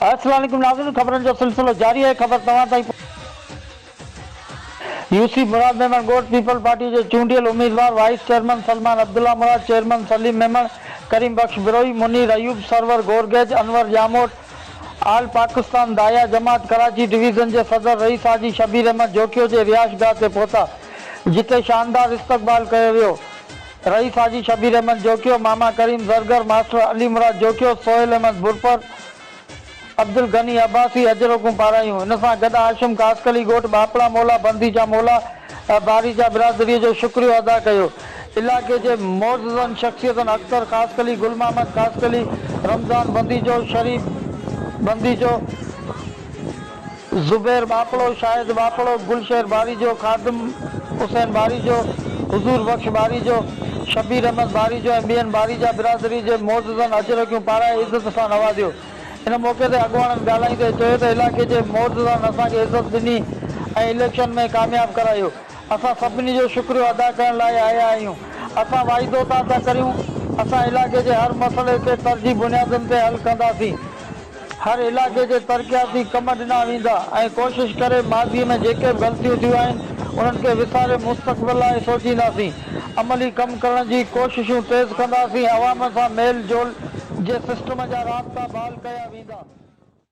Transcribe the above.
السلام عليڪم ناظرين خبرن جو سلسلو جاري آهي خبر توهان تائين يوسف مراد ميمڻ ڳوٺ پيپلز پارٽي جي چونڊيل اميدوار vice chairman Salman Abdullah Murad chairman Saleem Memon Karim Bakhsh Brohi Munir Ayub Sarwar Gorgej Anwar Jamot all Pakistan داعيه جماعت ڪراچي ڊويزن جي صدر رئيس حاجي شبير احمد جوکيو جي رهائش گاهه تي پهتا جتي شاندار استقبال ڪيو ويو رئيس حاجي شبير احمد جوکيو ماما ڪريم زرگر ماسٽر علي مراد جوکيو سهيل احمد برپر عبدالغني عباسي اجرڪون پارايون. ان سان گڏ هاشم خاصخيلي ڳوٺ ٻاپڙا مولا بندي جا مولا باري جا برادريء جو شڪريو ادا ڪيو. علائقي جي معززن شخصيتن اختر خاصخيلي، گل محمد خاصخيلي، رمضان بنديجو، شريف بنديجو، زبير ٻاپڙو، شاهد ٻاپڙو، گل شير ٻاريجو، خادم حسين ٻاريجو، حضور بخش ٻاريجو، شبير احمد ٻاريجو ۽ ٻين ٻاريجا برادري جي معززن اجرڪيون پارائي عزت سان نوازيو. ان موقعي تي اڳواڻن ڳالهائيندي چيو ته علائقي جي معززن اسان کي عزت ڏني ۽ اليڪشن ۾ ڪامياب ڪرايو. اسان سڀني جو شڪريو ادا ڪرڻ لاء آيا آهيون. اسان واعدو تان ٿا ڪريون اسان علائقي جي هر مسئلي کي ترجيح بنيادن تي حل ڪنداسين. هر علائقي کي ترقياتي ڪم ڏنا ويندا ۽ ڪوشش ڪري ماضي ۾ جيڪي به غلطيون ٿيون آهن انهن کي وساري مستقبل لاء سوچينداسين عملي ڪم ڪرڻ جي ڪوششون تيز ڪنداسين عوام سان ميل جول جي سسٽم جا رابطا بحال ڪيا ويندا.